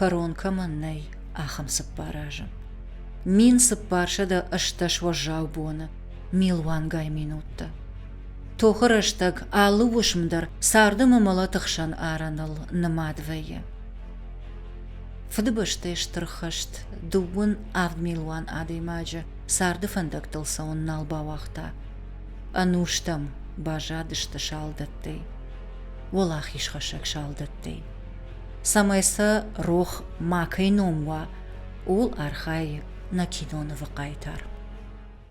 кӕрон кӕмӕн нӕй, ахӕм цыппар азы. Мин цыппар сӕдӕ ӕстдӕс уӕззау боны, милуангай минуттӕ. Тохы рӕстӕг алы уысм дӕр царды мымӕлӕты хсӕн арӕныл нымад вӕййы. Фыдыбӕстӕйы стыр хӕст дыууын авд милуан адӕймаджы царды фӕндӕгтыл цӕуын нал бауагъта. Ӕнустӕм баззадысты салдӕттӕй, уӕлахизхӕссӕг салдӕттӕй. Цӕмӕй сӕ рох макӕй ном уа, ууыл архайы нӕ кинонывы хъайтар.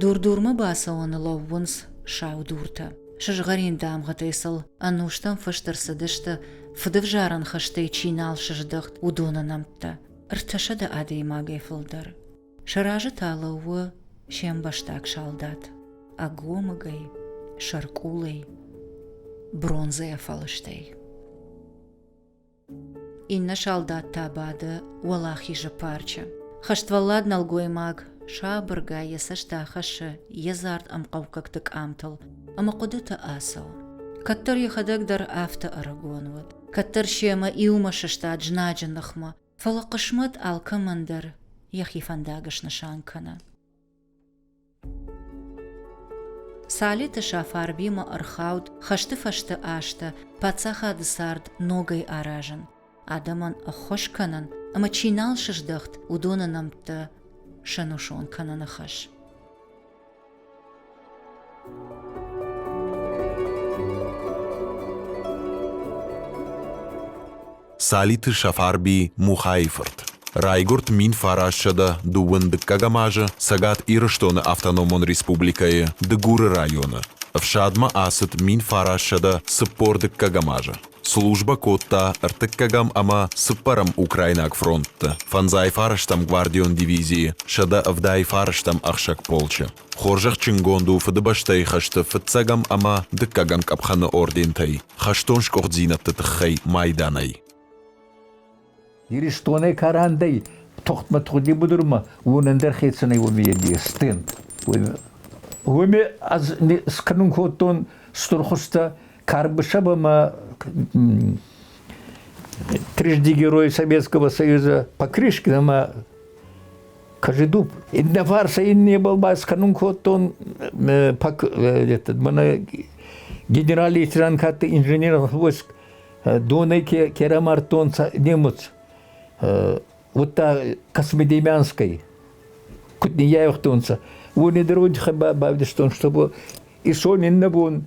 Дур-дурмӕ бацӕуӕны лӕууынц сау дуртӕ. Сызгъӕрин дамгъӕтӕй сыл ӕнустӕм фыст ӕрцыдысты, фыдывзарӕн хызтӕй чи нал сыздӕхт, уыдоны нӕмттӕ. Ӕртӕсӕдӕ адӕймагӕй фылдӕр. Сӕ разы та лӕууы се мбӕстаг салдат. Ӕгомыгӕй, сӕркъулӕй, бронзӕйӕ фӕлыстӕй. Иннӕ салдат та бады уӕлахизы парчы. Хӕствӕллад нӕлгоймаг сабыргай йӕ цӕст ахӕссы йе дзард ӕмхъӕукӕгты къамтыл ӕмӕ хъуыдыты ацӕуы. Кӕддӕр йӕхӕдӕг дӕр афтӕ ӕрыгон уыд. Кӕддӕр семӕ иумӕ сыстад знаджы ныхмӕ, фӕлӕ хъысмӕт алкӕмӕн дӕр йӕхи фӕндаг снысан кӕны. Салиты Сафарбимӕ ӕрхауд хӕсты фӕсты азтӕ паддзахады цард ногӕй аразын, адӕмӕн ӕххуыс кӕнын ӕмӕ чи нал сыздӕхт, уыдоны нӕмттӕ сӕнусон кӕныны хӕс. Цалиты Сафарби Мухайы-фырт райгуырд мин фарассӕдӕ дыууын дыккӕгӕм азы Цӕгат Ирыстоны автономон республикӕйы Дыгуры районы. Ӕфсадмӕ ацыд мин фарассӕдӕ цыппор дыккӕгӕм азы. Службӕ кодта ӕртыккӕгӕм ӕмӕ цыппӕрӕм украинаг фронтты, фӕндзай фарстӕм гвардион дивизийы, сӕдӕ ӕвдай фарстӕм ӕхсӕг полчы. Хорзӕхджынгонд у Фыдыбӕстӕйы хӕсты фыццӕгӕм ӕмӕ дыккӕгӕм къӕпхӕны ордентӕй хӕстон скъуыддзинӕдты тыххӕй майданӕй. Иристонӕй карандӕй тухтмӕ-тухди будурма унӕндӕр хецӕнӕй уоми еди стен. Уоми аз сканун кодтон стур хуста Карбышева трижди герой Советского Союза Покрышкина Кажедуб. Инновар сӕ иннебал байсканун кодтон пак этот, мана генерал лейтенанкатты инженер войск донай керамартон немец вот космодемянской кутни яйхтонца. Уни дороги бавдистон, чтобы и сон иннабон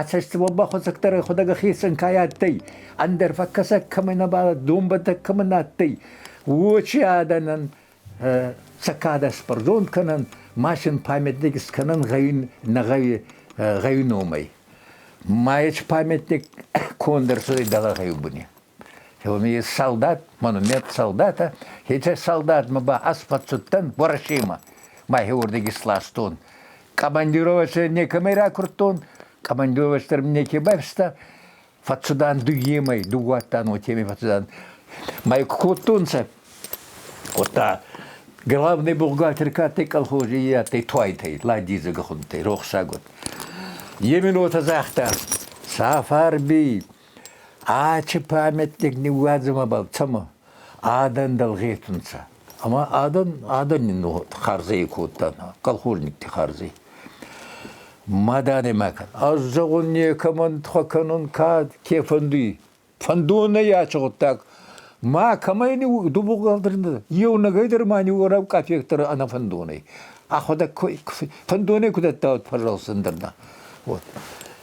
Ацӕстимо бахуцӕгдӕр худӕг хецӕн кай адтӕй, ӕндӕр фӕккӕсӕг кӕмӕ нӕбал донбӕттӕг кӕмӕ нӕ адтӕй, уочи адӕнӕн цӕкадас пардон кӕнӕн, машин памятник скӕнӕн гъӕуин нӕгъӕуи гъӕуи номӕй. Майеч памятник кондӕр цудӕй дӕлӕ гъӕуи буни. Хелмийы солдат, монумент солдата, хецӕ солдатмӕ ба ӕсхуӕцудтӕн Уӕрӕсемӕ, мӕхе уордӕг исластон. Командировачӕ некӕмӕй ракурдтон, командировач дӕр мин неке байфиста, фӕццудан дуйемӕй, дууадтан уотемӕй фӕццудан. Мӕ кодтонцӕ, уотта главный бухгалтер кадтӕй колхози и адтӕй туайтӕй, ладдизӕ гӕхуӕнттӕй, рохсаг уод. Е мин уотӕ загъта, Сафарби, Ачи памятник ниууадзунӕбӕл цӕмӕ? Адӕн дӕлгъетунцӕ. Ӕма адӕн, адӕни хардзӕй кодтанӕ, колхозникти хардзӕй. Ма дӕнӕ ма кӕн. Ӕз зӕгъун некӕмӕн хуӕкӕнун кӕд ке фӕндуй. Фӕндонӕй ачи гъуддаг. Ма кӕмӕй дубугӕлдӕрӕнцӕ, еунӕгӕй дӕр ма ниуорӕу къафектӕрӕ ӕнӕфӕндонӕй. Ӕхуӕдӕг фӕндонӕй ку дӕттаут, пожалуйста, ӕндӕр нӕ. Вот.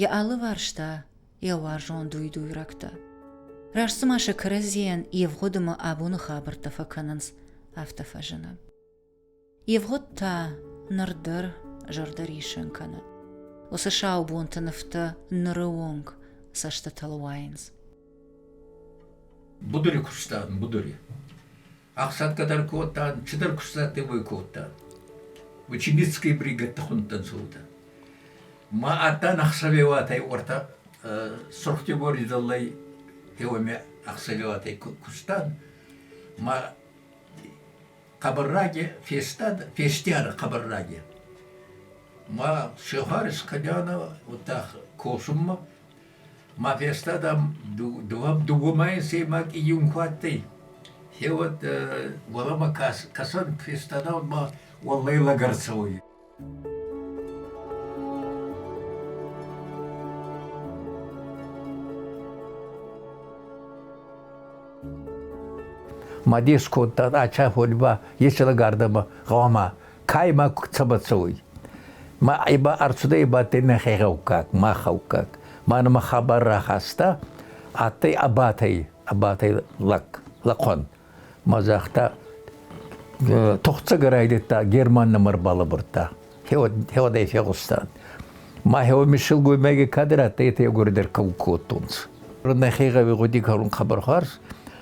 йӕ алыварста йӕ уарзон дуйдуйрӕгтӕ. Раст цыма сӕ кӕрӕдзийӕн ивгъуыдымӕ абоны хабӕрттӕ фӕкӕнынц, афтӕ фӕзыны. Ивгъуыд та ныр дӕр зӕрдӕриссын кӕны. Уыцы сау бонты нывтӕ ныры онг цӕстытыл уайынц. Будури куыстатын, будури. Ӕхсӕнкӕ дӕр кодта, цидӕр кустдӕттӕй уой кодта. Учебницкие бригадтӕ хундтан цаутӕ. Ма адтан ӕхсӕвеуатӕй уортӕ Сурхтегори дзаллай теуӕмӕ ӕхсӕвеуатӕй кустан. Ма хъабарраге фестад, фестиара хъабарраге. Ма сехари скъадиана ута косунмӕ, Ма фестад ам дууӕ мӕйы сеймаг июн куы адтӕй, е уӕд уӕлӕмӕ кӕсӕн фестадӕн ма уӕллӕй лӕг ӕрцӕуй. Ма дес кодтан ача ходьба, еци лӕг ардӕмӕ гъӕуама Ка имӕ цӕбӕл цӕуй? Ма ба ӕрцудӕй ибадтӕй мӕхе гъӕуккаг, мах гъӕуккаг. Ма нӕмӕ хабар рахаста, адтӕй Ӕбатӕй, Ӕбатӕй лӕг, лӕхъуӕн. Ма загъта, тухцагӕ райдӕдта Герман нӕмӕ рбалӕбурдта. Хеуӕдӕй фегъустан. Мӕхеуӕ ми силгоймӕги кадӕр адтӕй, етӕ егоридӕр кӕун кодтонцӕ. Нӕхе гъӕуи гъуди кӕнун хъӕбӕр хуарз.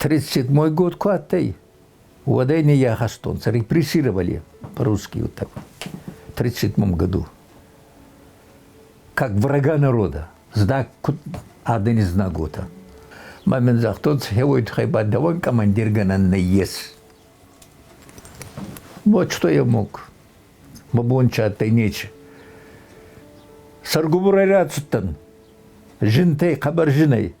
37-й год ку адтӕй, уӕдӕй не ахӕстонцӕ, репрессировали по-русски вот так в 37 году, как врага народа, знак адӕни знагота. Ма мин загътонцӕ, хевойдхай ба даван командирганан нейес. Вот что я мог. Ма бонча адтӕй нечи. Саргубурай рацудтӕн. Жинтӕй, хъӕбӕр жинӕй –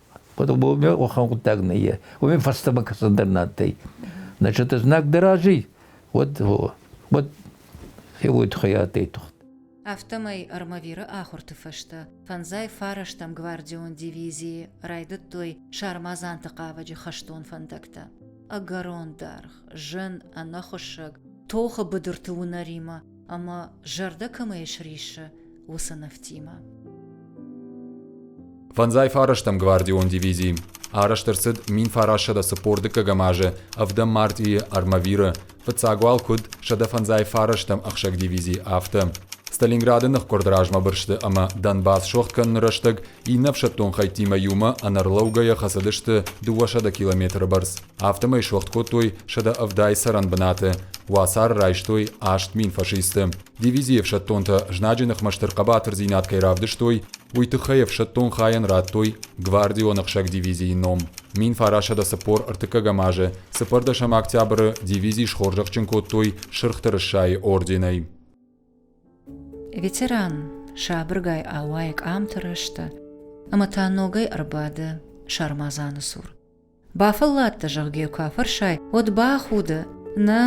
По-другому уӕхӕн гъуддаг нӕййе. Уоми фӕстӕмӕ кӕсӕндӕр нӕ адтӕй. Значит, знаг дӕ рази, уӕд, уӕд фелуй тухӕй адтӕй тухт. Афтӕмӕй Армавиры ахуырты фӕстӕ фӕндзай фарӕстӕм гвардион дивизийы райдыдтой сармадзанты хъавӕджы хӕстон фӕндӕгтӕ. Ӕгӕрон дӕргъ, зын, ӕнӕхуыссӕг, тохы быдырты уынӕримӕ ӕмӕ зӕрдӕ кӕмӕй сриссы, уыцы нывтимӕ. Фӕндзай фарӕстӕм гвардион дивизи арӕзт ӕрцыд минфарасӕдӕ цыппор дыккӕгӕм азы ӕвдӕм мартъийы Армавиры, фыццаг уал куыд сӕдӕ фӕндзай фарӕстӕм ӕхсӕг дивизи, афтӕ. Сталинграды ныхкъуырд размӕ бырсты ӕмӕ Донбасс сох кӕныны рӕстӕг иннӕ ӕфсӕддон хӕйттимӕ иумӕ ӕнӕрлӕугӕйӕ хӕцыдысты дыууӕсӕдӕ километры бӕрц. афтӕмӕй суӕгъд кодтой сӕдӕ ӕвдай цӕрӕн бынаты, уацары райстой аст мин фашисты. Дивизийы ӕфсӕддонтӕ знаджы ныхмӕ стыр хъӕбатырдзинад кӕй равдыстой, уый тыххӕй ӕфсӕддон хайӕн радтой гвардион ӕхсӕг дивизийы ном. Мин фарасӕдӕ цыппор ӕртыккӕгӕм азы цыппӕрдӕсӕм октябры дивизи схорзӕхджын кодтой Сырх Тырыссайы орденӕй. Ветеран сабыргай ауайы къамты рӕзты ӕмӕ та ногӕй ӕрбады сармадзаны цур. Бафӕлладтӕ, зӕгъгӕ, йӕ куы афӕрсай, уӕд бахуды. Нӕ,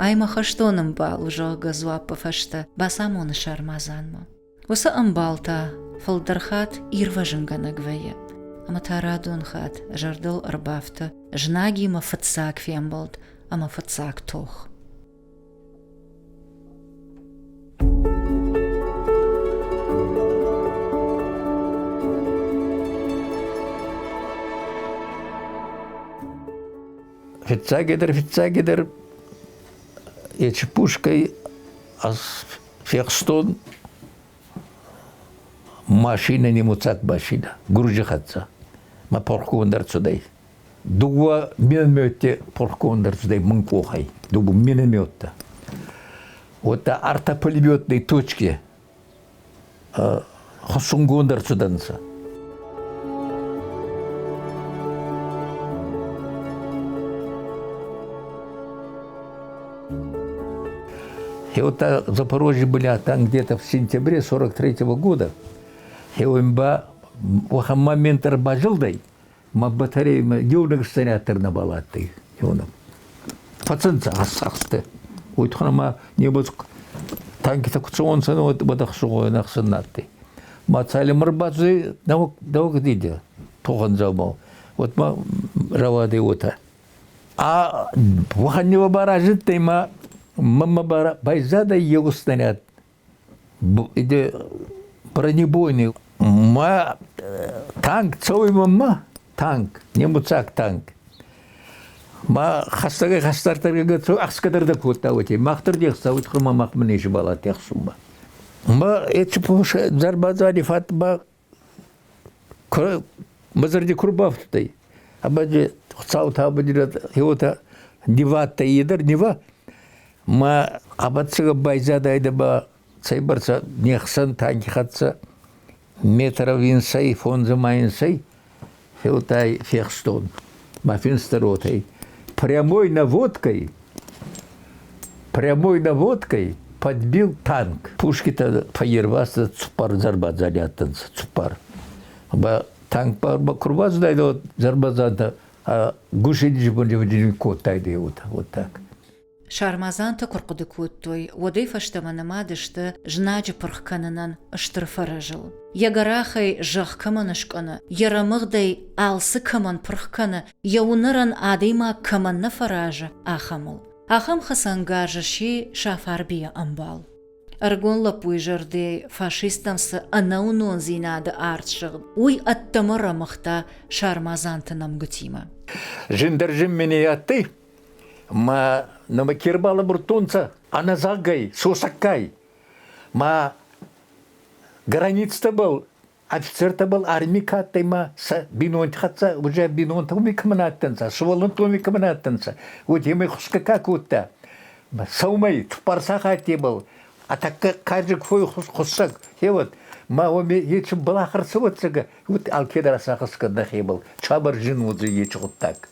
ай мӕ хӕстон ӕмбал у, зӕгъгӕ, дзуаппы фӕстӕ бацамоны сармадзанмӕ. Уыцы ӕмбал та фылдӕр хатт ирвӕзынгӕнӕг вӕййы. Ӕмӕ та радон хатт зӕрдыл ӕрбафты знагимӕ фыццаг фембӕлд ӕмӕ фыццаг тох. Фиццагидӕр, фиццагидӕр ечи пушкай аз фехстон машина немуцаг машина, гуржи хӕцца. Ма порхгундӕр цудӕй. Дууа минометте пурхгонд ӕрцудӕй мин къохӕй, дуугун минометтӕ. Уотта ӕртӕ пулеметной точки хуссунгонд ӕрцудӕнцӕ. И вот в Запорожье были там где-то в сентябре 43 года. И он ба в момент рбажилдой Ма батареями еунӕг снаряддӕр нӕбал адтӕй еунӕг. Фӕцӕнцӕ ӕсӕхстӕ. Уой туххӕн ӕма небӕ танкитӕ куд цӕуӕнцӕ, бадӕхсугъойӕн ӕхсӕн нӕ адтӕй. Ма цалинмӕ ӕрбадзӕй нӕуӕг дидӕ тогъан дзаумау, уӕдмӕ рауадӕй уотӕ. А уӕхӕн неуӕ баразтӕй ма мӕмӕ байзадӕй еугур снаряд Иде бронебойный мӕ танк цӕуймӕ ма танк немуцаг танк ма хӕстӕгӕй хӕстӕрдӕргӕ цӕуй ӕхсгӕдӕр дӕ кодта уотӕ махдӕр де хецауи туххӕй ма махмӕ не сбӕлӕдтӕ ӕхсунмӕ. Ма еци пурсӕ зӕр бадзади фӕд ба Мӕ зӕрди ку рбафтудтӕй, абаджи Хуцаутӕ абадирӕд хеуотӕ нивадтӕй, е дӕр нива. Ма абӕтдзӕгӕ байзадайдӕ ба цӕйбӕрцӕ не хсӕн таги хӕццӕ метров инсӕй, фондзӕ ма инсӕй. Хилтӕй фехстон мӕ финсты ротӕй. Прямой наводкой, прямой наводкой подбил танк. Пушкитӕ фӕйервӕсса цуппар зарбадзари адтӕнцӕ, цуппар. Ба танк ба курбазайдӕ зарбадзантӕ гушинджи кодтайдӕ, вот, вот так. Сармадзантӕ куы рхъуыды кодтой, уӕдӕй фӕстӕмӕ нымад сты знаджы пырх кӕнынӕн стыр фӕрӕзыл. Йӕ гӕрахӕй зӕхх кӕмӕн скӕны, йӕ рӕмыгъдӕй алцы кӕмӕн пырх кӕны, йӕ уынӕрӕн адӕймаг кӕмӕн нӕ фӕразы, ахӕмыл. Ахӕм хӕцӕнгарз сси Сафарбийы ӕмбал. Ӕрыгон лӕппуйы зӕрдӕйы фашисттӕм цы ӕнӕуынондзинады арт сыгъд, уый ӕддӕмӕ рӕмыгъта сармадзанты нӕмгуытимӕ. Зындӕр зын ме не адтӕй, Ма нӕмӕ ке рбалӕбурдтонцӕ ӕнӕзагӕй, сосӕггай. Ма границӕбӕл офицертӕбӕл арми ка адтӕй ма сӕ бийнонти хӕццӕ уже бийнонтӕ уоми кӕмӕн адтӕнцӕ, сувӕллӕнттоми кӕмӕн адтӕнцӕ, уотемӕй хусгӕ ка кодта. Ма сӕумӕй Тупарсах адтебӕл, а тӕккӕ карджаг фой хуссӕг хеуӕд, ма уоми ечи балахар цӕуӕццагӕ, уотти алкедӕр сахъсгӕ нӕхебӕл, чабар зин уодзӕй ечи гъуддаг.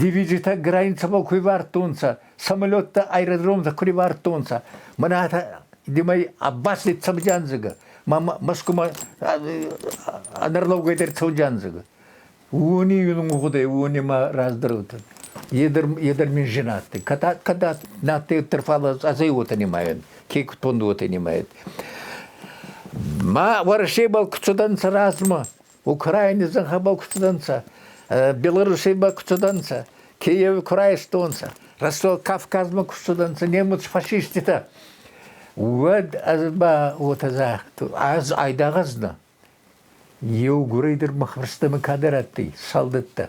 Дивизитӕ границӕбӕл ку ивардтонцӕ, самолеттӕ аэродромтӕ ку ривардтонцӕ, мӕнӕ димӕй Аббас дӕр цӕудзиандзӕгӕ, ма Мӕскумӕ ӕнӕрлӕугӕй дӕр цӕудзиандзӕгӕ. Уони унгъудӕй, уони ма раздӕрутӕн. Едӕр мин женатӕй. Кӕд нӕдтӕйттер фал азӕй уотӕ нимайӕн, ке кутонд уотӕ нимайӕн. Ма Уӕрӕсебӕл ку цудӕнцӕ размӕ, Украини зӕнхӕбӕл ку цудӕнцӕ, Белорусей ба ку цудӕнцӕ, Киеви ку райстонцӕ, Ростов-Кавказмӕ ку цудӕнцӕ немуц фашиститӕ, уӕд ӕз ба уотӕ загътон, ӕз айдагъ знон, еугурӕй дӕр мах фӕрстӕмӕ кадӕр адтӕй, солдаттӕ.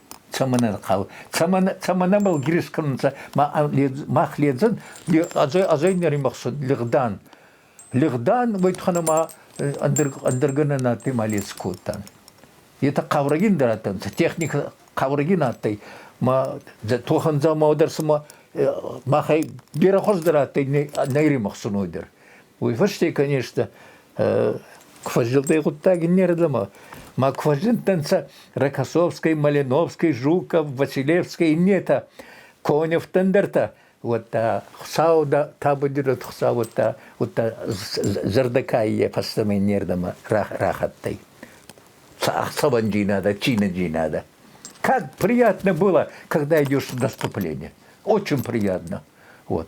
цӕмӕн ӕнхъӕл, цӕмӕн, цӕмӕн ӕмбал гирис кӕнунцӕ, мах ледзӕн, азӕй, азӕй нимӕхсӕн лигъдан. Лигъдан, уайтхӕнӕ ма ӕндӕргӕнӕн адтӕй ма ледз кодтан. Етӕ хъаурӕгин дӕр адтӕнцӕ, техника хъаурӕгин адтӕй, ма тохӕн дзаума дӕр сӕмӕ махӕй берӕ хуӕздӕр адтӕй нӕйримӕхсунуй дӕр. Уой фӕсте, конечно, квазилдӕй гъуддаг иннердӕмӕ. Ма квазилдтӕнцӕ Рокоссовскай, Малиновскай, Жуков, Василевскай, иннетӕ. Коневтӕн дӕр та уӕдта Хуцау да табудирӕд Хуцау уӕдта, уӕдта зӕрдӕкаййӕй фӕстӕмӕ иннердӕмӕ рахаттӕй. Саванджинадо, чиноджинадо. Как приятно было, когда идешь в наступление. Очень приятно. Вот.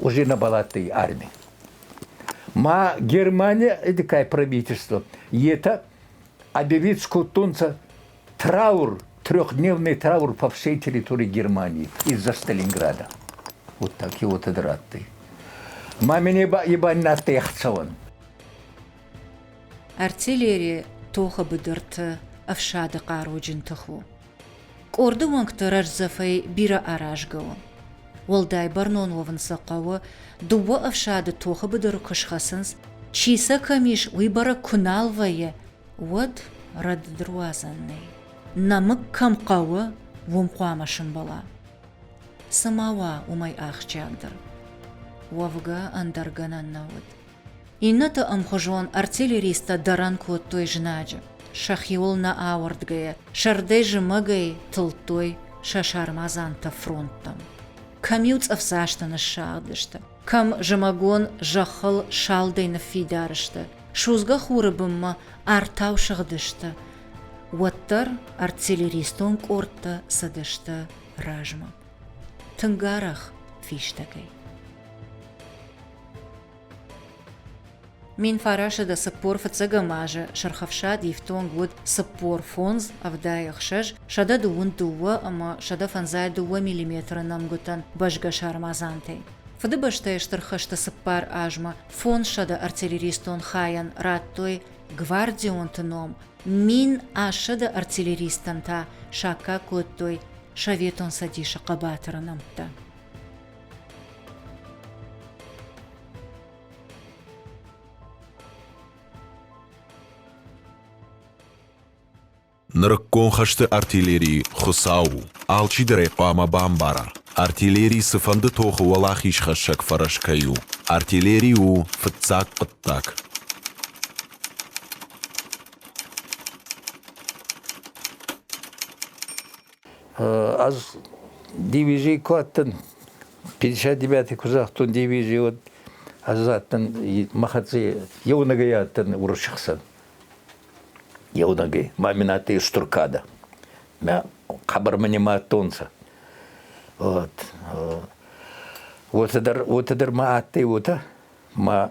уже на балаттой армии. Ма Германия, такое правительство, это объявит скотонца траур, трехдневный траур по всей территории Германии из-за Сталинграда. Вот такие вот драты. Мамине ебаннатты ехцеван. Артиллерия тохы быдырты ӕфсады хъаруджын тых у. Къорды уӕнгты рӕздзӕфӕй бирӕ аразгӕ у. Уӕлдай бӕрнон уӕвын сӕ хъӕуы, дыууӕ ӕфсады тохы быдыры куы схӕцынц, чи сӕ кӕм ис, уый бӕрӕг куы нал вӕййы, уӕд рӕдыдруадзӕн нӕй. Нӕмыг кӕм хъӕуы, уым хъуамӕ сымбала. Цы ма уа уымӕй ахсджиагдӕр? Уӕвгӕ ӕндӕр гӕнӕн нӕ уыд. Иннӕты ӕмхуызон артиллеристтӕ дӕрӕн кодтой знаджы, сӕхиуыл нӕ ауӕрдгӕйӕ, сӕрдӕй зымӕгӕй тылдтой сӕ сармадзанты фронттӕм. Кӕм-иу цъӕфдзасты ныссагъдысты, кӕм зымӕгон зӕххыл салдӕй ныффидар сты, судзгӕ хуры бынмӕ артау сыгъдысты, уӕддӕр артиллеристон къордтӕ цыдысты размӕ. Тынг арӕх фистӕгӕй. Мин фарасы до цыппор фыццӕгӕм азы Сырх Ӕфсад ифтонг уыд цыппор фондз ӕвдӕй ӕхсӕз, сӕдӕ дыууын дыууӕ ӕмӕ сӕдӕ фӕндзай дыууӕ миллиметры нӕмгуытӕн бӕзгӕ сармадзантӕй. Фыдыбӕстӕйы Стыр хӕсты цыппар азмӕ фондзсӕдӕ артиллеристон хайӕн радтой гвардионты ном, мин ассӕдӕ артиллеристтӕн та саккаг кодтой Советон Цӕдисы хъӕбатыры нӕмттӕ. Нырыккон хӕсты артиллерийы Хуыцау у. Алчидӕрӕй хъуамӕ бамбара, артиллери цыфӕнды тохы уӕлахизхӕссӕг фӕрӕз кӕй у. Артиллери у фыццаг хъуыддаг. Ӕз дивизий ку адтӕн, пятьдесят девятый ку загътон дивизий, уӕд ӕз адтӕн мӕ хӕццӕ еунӕгӕй адтӕн уруссаг хсӕн. Еунӕгӕй. Мамин адтӕй устур кадӕ. Мӕ хъӕбӕрмӕ нӕма адтонцӕ. Вот. Уотӕ дӕр, уотӕ дӕр ма адтӕй уотӕ. Ма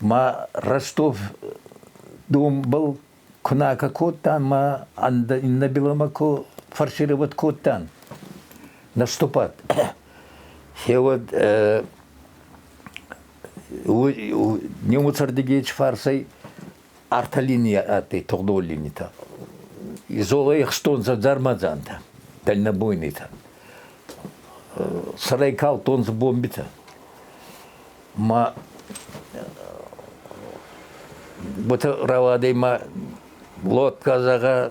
Мӕ Ростов донбӕл куы накӕ кодтан, мӕ иннобеломӕ ку фарсировать кодтан наступать, феуӕд днем уцӕрдыгей фарсӕй Ӕртӕ линийӕ ӕтӕй тугъдон линитӕ. Изолӕй ӕхстонцӕ дзармадзантӕ, дальнобойнайтӕ. Сӕрӕй калдтонцӕ бомбитӕ. Ма уотӕ рауадӕй ма лодка зӕгъа,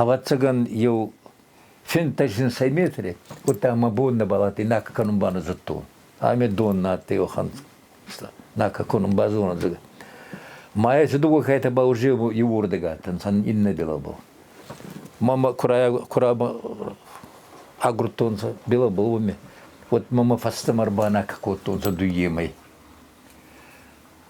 Ӕвӕццӕгӕн еу фентӕзинсӕй метри, уӕдта мӕ боннӕбӕл адтӕй накӕ кӕнун банодзодтон. Ӕме дон нӕ адтӕй уӕхӕн накӕ кӕнун базонӕдзӕгӕ. Ма еци дууӕ кайтӕ ба уже иуурдӕг адтӕнцӕ иннӕбелӕбӕл. Мамӕ агурдтонцӕ белӕбӕл уоми, уӕд мӕмӕ фӕстӕмӕ ӕрбанакӕ кодтонцӕ дуййемӕй.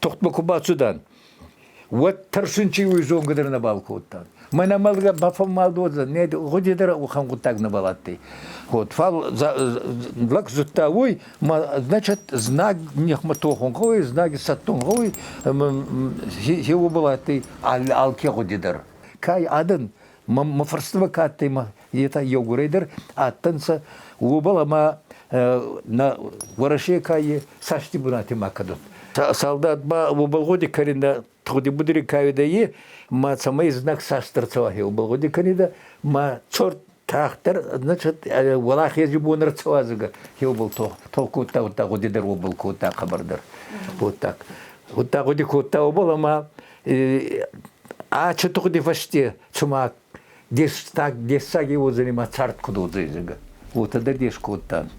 Тухтмӕ ку бацудан, уӕд тӕрсун чи уй зонгӕ дӕр нӕбал кодтан. Мӕнӕ мӕлгӕ бафӕммалдодзан, не гъуди дӕр охӕн гъуддаг нӕбал адтӕй. Вот, фал лӕг зудта уой, значит, знаг нихмӕ тохун гъӕуй, знаги сӕттун гъӕуй, хе уобӕл адтӕй алке гъуди дӕр. Кай адӕн Мӕ фӕрстимӕ кӕдтӕй етӕ еугурӕй дӕр адтӕнцӕ, уобӕл ӕма нӕ Уӕрӕсе каййи цӕсти бунати ма кӕнун. Салдат ба уобӕл гъуди кӕнидӕ тугъди будури кайидӕ е, ма цӕмӕй знаг цас дӕр цӕуахе, уобӕл гъуди кӕнидӕ, ма цорт тагъддӕр, значит, уӕлахези бон ӕрцӕуадзугӕ еубал толк кодта, удта гъуди дӕр уобӕл кодта хабар дӕр. Уодта гъуди кодта уобӕл, ӕма А чутухди вышти чума дештаг дессаги узынимӕ цардкуд удзызг. Утыды деш кодтан.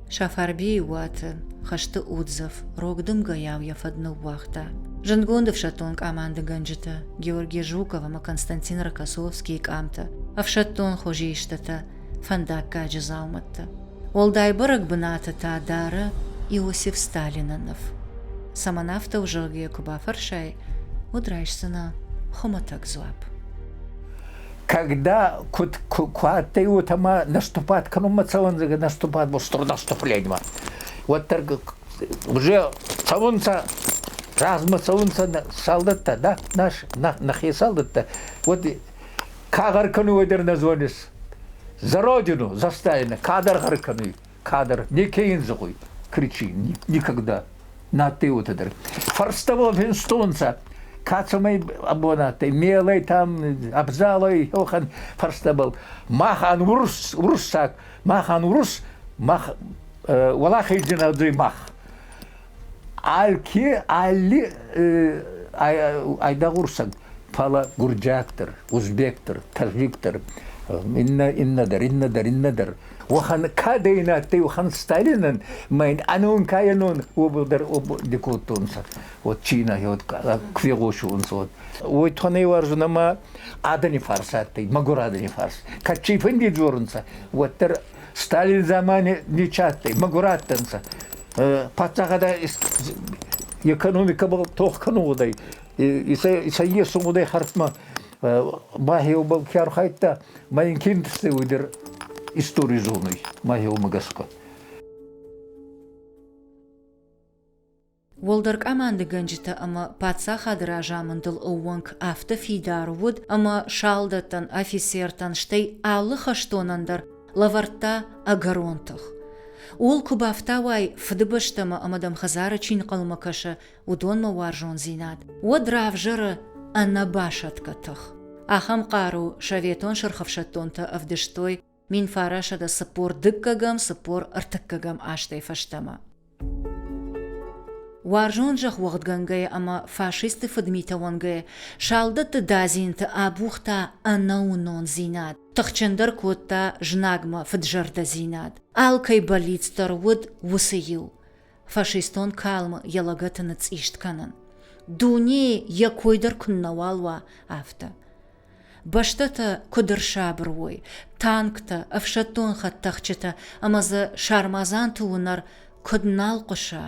Сафарбейы уаты хӕсты Удзов рог дымгӕйау йӕ фӕд ныууагъта. Зындгонд ӕфсӕддон къамандыгӕнджытӕ Георги Жуков ӕмӕ Константин Рокоссовскийы къамтӕ, ӕфсӕддон хуызы истытӕ фӕндаггаджы дзаумӕттӕ. Уӕлдай бӕрӕг бынаты та дары Иосиф Сталины ныв. Цӕмӕн афтӕ у, зӕгъгӕ, йӕ куы бафӕрсай, уӕд райсдзынӕ хуымӕтӕг дзуапп. Когда куд куадтӕй вот ӕма наступат кӕнунмӕ цӕуӕнцӕ, наступат был наступлениемӕ. Уӕддӕр уже цӕунцӕ, размӕ цӕунцӕ солдаттӕ, да, наш, нахе солдаттӕ. Вот Кадар кӕнуй дӕр нӕ зонис? За родину, за стайна. Кадар гъӕр кӕнуй. Кадр. Неке ин зӕгъуй. Кричи. Никогда. Надтай уотӕ дӕр. Фарстовал финстунца. Кацумай абонаттай, мелай там, абзалай хёхан фарстабал. Махан урус, урусак, махан урус, мах, валахайдина мах. Алки алли айдагъ урсаг, фӕлӕ гурджиактор, узбектор, тажиктор, иннӕ, иннӕдӕр, иннӕдӕр, иннӕдӕр. Уӕхӕн кадейн адтӕй, уӕхӕн Сталинӕн, мӕн ӕнонкайӕнон уобалдӕр ди кодтонцӕ, вот чинӕ, вот ку фегъосунцӕ, вот. Уой тонӕй уарзун ӕма адӕни фарс адтӕй, мӕгур адӕни фарс. Кӕд цийфӕнди дзорунцӕ, уӕддӕр Сталин замани ниче адтӕй, мӕгур адтӕнцӕ. Паддзахадӕ экономика был тох кӕнун гъудӕй. Сӕ есун гъудӕй хӕрдмӕ. Мӕхеубӕл ке архайдта, ма ин киндзтӕй уӕдӕр истори зонуй, мӕхеумӕ гӕсгӕ. Уӕлдӕр къамандыгӕнджытӕ ӕмӕ паддзахады разамындыл ӕууӕнк афтӕ фидар уыд, ӕмӕ салдӕттӕн, афицертӕн, стӕй алы хӕстонӕн дӕр лӕвӕрдта ӕгӕрон тых. Ууыл куы бафтауай, фыдыбӕстӕмӕ ӕмӕ дӕм хӕдзары чи нхъӕлмӕ кӕсы, уыдонмӕ уарзондзинад, уӕд равзӕры ӕнӕбасӕтгӕ тых. Ахӕм хъару советон сырхӕфсӕддонтӕ ӕвдыстой мин фарасӕдӕ цыппор дыккӕгӕм цыппор ӕртыккӕгӕм азтӕй фӕстӕмӕ. Уарзон зӕхх уӕгъдгӕнгӕйӕ ӕмӕ фашистты фыдмитӕ уӕнгӕйӕ салдӕтты дадзинты абухта ӕнӕуынондзинад, тыхджындӕр кодта знагмӕ фыдзӕрдӕдзинад. Алкӕй бӕллиц дӕр уыд уыцы иу. фашистон калмы йӕ лӕгӕты ныцъист кӕнын. Дунейы йӕ кой дӕр куыннӕуал уа, афтӕ. Бӕстӕтӕ куыд ӕрсабыр уой, танктӕ, ӕфсӕддон хӕдтӕхджытӕ ӕмӕ дзы сармадзанты уынӕр куыд нал хъуыса,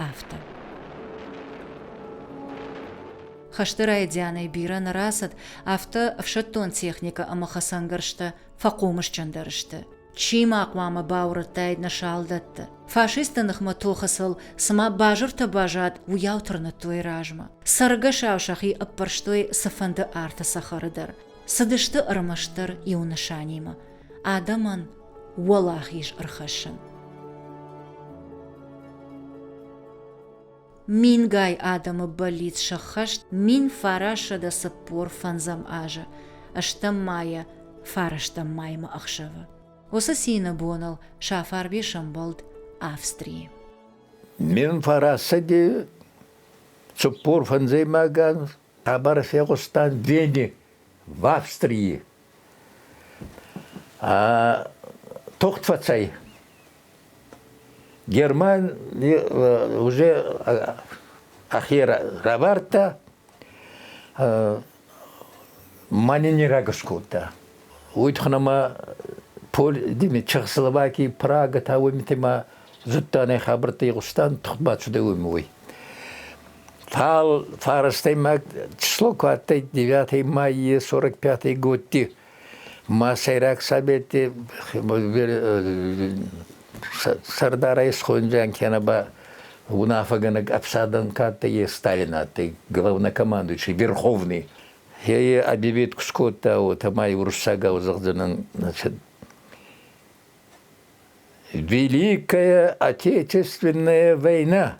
афтӕ. Хӕсты райдианӕй бирӕ нӕ рацыд, афтӕ ӕфсӕддон техникӕ ӕмӕ хӕцӕнгӕрзтӕ фӕхъомысджындӕр сты. Чи ма хъуамӕ баурӕдтаид нӕ салдӕтты? Фашистты ныхмӕ тохы сыл цыма базыртӕ баззад, уыйау тырныдтой размӕ. Цӕргӕсау сӕхи ӕппӕрстой цыфӕнды арты цӕхӕры дӕр. Цыдысты ӕрмӕстдӕр иу нысанимӕ, адӕмӕн уӕлахиз ӕрхӕссын. Мингай адӕмы бӕллиц сӕххӕст мин фарӕссӕдӕ цыппор фӕндзӕм азы, стӕм майӕ фарӕстӕм маймӕ ӕхсӕвы. Уыцы цины боныл Сафарби сӕмбӕлд Австрийы. Мин фарӕссӕдӕ цыппор фӕндзӕймагӕн хъӕбӕр фехъуыста Вене в Австрии. Тохт фӕцӕй. Германи уже ахе равардта, мӕнӕ не рагус кодта. Уитхунӕмӕ Чехословакии, Прага, та уомитемӕ зудта нӕ хабӕрттӕ игъустан, тухбат шудӕй уоми уой. Фал фарастӕй маг число ку адтӕй девятӕй маййи сорок пятый годти ма Сӕйраг Совети сӕрдарӕ исхондзиан кенӕ ба унафӕгӕнӕг ӕфсадӕн ка адтӕй, е Сталин адтӕй, главнокомандующий, Верховный. Е объявитку скодта, уотӕ ма и уруссагау зӕгъдзӕнӕн «Великая Отечественная война»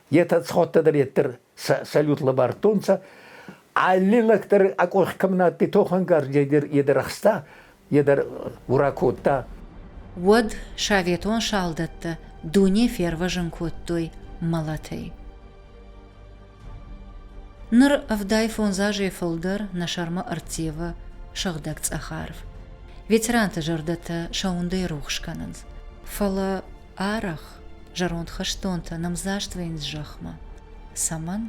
Етӕ сходтӕ дӕр еттер салют лабардтонцӕ, аллинӕгдӕр ӕ къох кӕмӕн адтӕй тохӕнгаргӕгер едӕр ӕхста, едӕр ура кодта. Уӕд советон салдӕттӕ дуне фервӕзун кодтой мӕлӕтӕй. Ныр ӕвдай фондз азӕй фылдӕр нӕ сӕрмӕ ӕрттевы сыгъдӕг цъӕх арв. Ветеранты зӕрдӕтӕ сӕ уындӕй рухс кӕнынц. Фӕлӕ Арӕх зӕронд хӕстонтӕ нымдзаст вӕййынц зӕхмӕ. Цӕмӕн?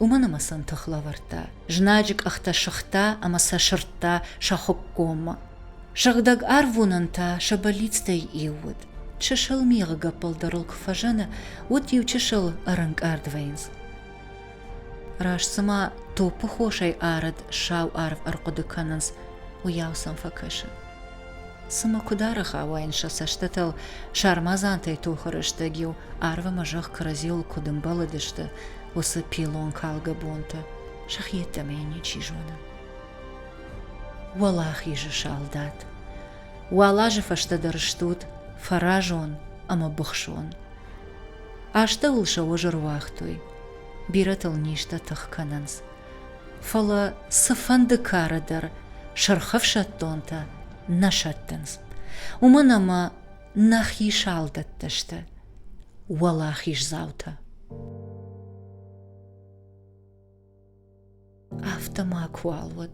Уымӕн ӕмӕ сын тых лӕвӕрдта, знаджы къӕхтӕ сыгъта ӕмӕ сӕ сырдта сӕ хуыккоммӕ. Сыгъдӕг арвуынӕн та сӕ бӕллицтӕй иу уыд. Чысыл мигъы гӕппӕл дӕр ыл куы фӕзыны, уӕд иу чысыл ӕрӕнкъард вӕййынц. Раст цыма топпы хосӕй арыд сау арв ӕрхъуыды кӕнынц, уыйау сӕм фӕкӕсы. Цымӕ куыд ӕрыхауаин сӕ цӕстытыл, сармадзантӕй тохы рӕстӕг-иу арв ӕмӕ зӕхх кӕрӕдзиуыл куыд ӕмбӕлыдысты уыцы пиллон калгӕ бонтӕ, сӕхи йеддӕмӕ йын ничи зоны. Уӕлахизы салдат! Уал азы фӕстӕдӕр стут фӕразон ӕмӕ быхсон. Астӕуыл сӕ уӕз ӕруагътой, бирӕтыл низтӕ тых кӕнынц. Фӕлӕ цыфӕнды кары дӕр сырх ӕфсӕддонтӕ нӕ сӕттынц, уымӕн ӕмӕ нӕхи салдӕттӕ сты уӕлахиздзаутӕ. Афтӕ макуал уӕд,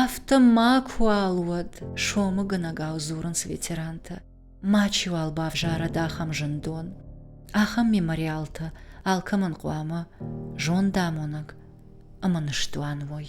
афтӕ макуал уӕд, сомыгӕнӕгау дзурынц ветерантӕ. Мачиуал бавзарӕд ахӕм зындон, ахӕм мемориалтӕ, алкӕмӕн хъуамӕ зондамонӕг ӕмӕ ныстуан уой.